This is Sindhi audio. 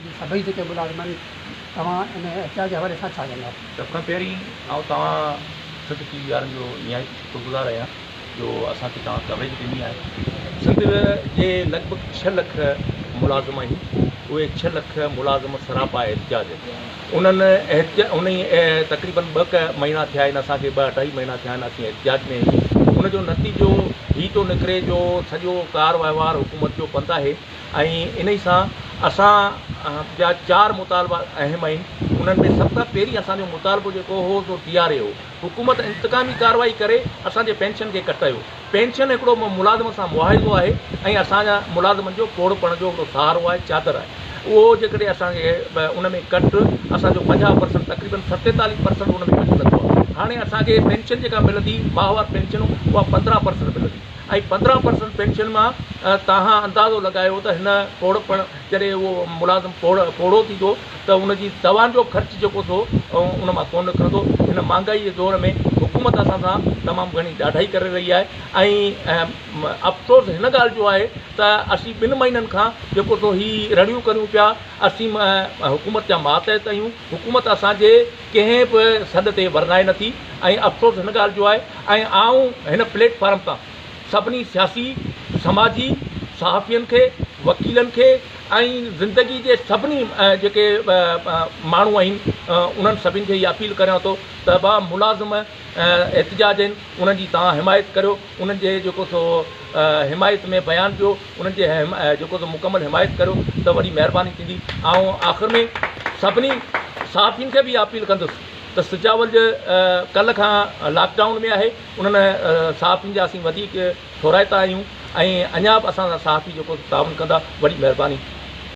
جي سڀئي جيڪي ملازمن توهان ان احتجاج جي حوالي سان ڇا چوندؤ؟ سڀ کان پهرين آئون توهان سنڌ ٽي وي وارن جو نهايت شڪر گذار آهيان جو اسان کي توهان ڪوريج ڏني آهي سنڌ جي لڳ ڀڳ ڇهه لک ملازم آهن اهي ڇهه لک ملازم سراپا احتجاج انهن احتجاج انهي تقريبن ٻه ڪ مهينا ٿيا آهن اسان کي ٻه اڍائي مهينا ٿيا آهن اسين احتجاج ۾ آهيون ان جو نتيجو هي ٿو نڪري جو سڄو ڪار وهنوار حڪومت جو بند آهي ۽ انهي سان اسان جا چار مطالبا اهم آهن انهن ۾ سڀ کان پهرين اسان جو مطالبو جيڪو هو سو ٽي آر اي هو حڪومت انتقامي ڪارروائي ڪري اسان جي پينشن کي ڪٽايو پينشن هڪڙو ملازم سان معاهدو آهي ۽ اسان جا ملازمن جو پوڙهپڻ جو هڪڙو سهارو آهي چادر آهي اهو جيڪڏهن اسان کي ان ۾ ڪٽ اسان جو پنجاهه پرسنٽ تقريبن ستيتاليهه پرسنٽ ان ۾ ڪٽ لڳو آهي هاڻي اسان کي پينشن جيڪا ملندي ماهوار پينشن اها پندرهن پرسنٽ ملندي ۽ پندرهن پرسنٽ پينشن مان تهان اندازو لڳايو ته هن پوڙهپڻ جڏهن اهو ملازم پوڙهو ٿيندو ته ان جي دوائن جو خرچ جيڪو ٿو ان مان ڪونه نڪرندو هن مهانگائي جي دور ۾ حڪومت اسان سان تمام گهڻي ڏاڍائي ڪري رهي آهي ۽ افسوس هن ڳالهه جو آهي ته اسين ٻن مهينن کان جيڪو سو هي رڙيون ڪريون پيا اسين حڪومت جا ماتحت آهيون حڪومت اسان جي ڪنهن به سڏ تي ورنائي نه ٿي ۽ افسوس هن ڳالهه جو آهي ۽ آئون هن پليٽ فارم تان سڀني سياسي، سماجي، صحافين کي، وڪيلن کي ۽ زندگي جي سڀني جيڪي ماڻهو آهن انهن سڀني کي اها اپيل ڪريان ٿو ته ڀا ملازم احتجاج آهن انهن جي توهان حمايت ڪريو. انهن جي جيڪو سو حمايت ۾ بيان ڏيو انهن جي جيڪو سو مڪمل حمايت ڪريو ته وڏي مهرباني ٿيندي آئون آخر ۾ سڀني صحافين کي به اپيل ڪندس ته سجاول جي ڪلهه کان لاڪ ڊائون ۾ آهي انهن صحافين جا اسين وڌيڪ ٿورائتا آهيون ۽ اڃا به اسان سان صحافي جيڪو تعاون ڪندا وڏي مهرباني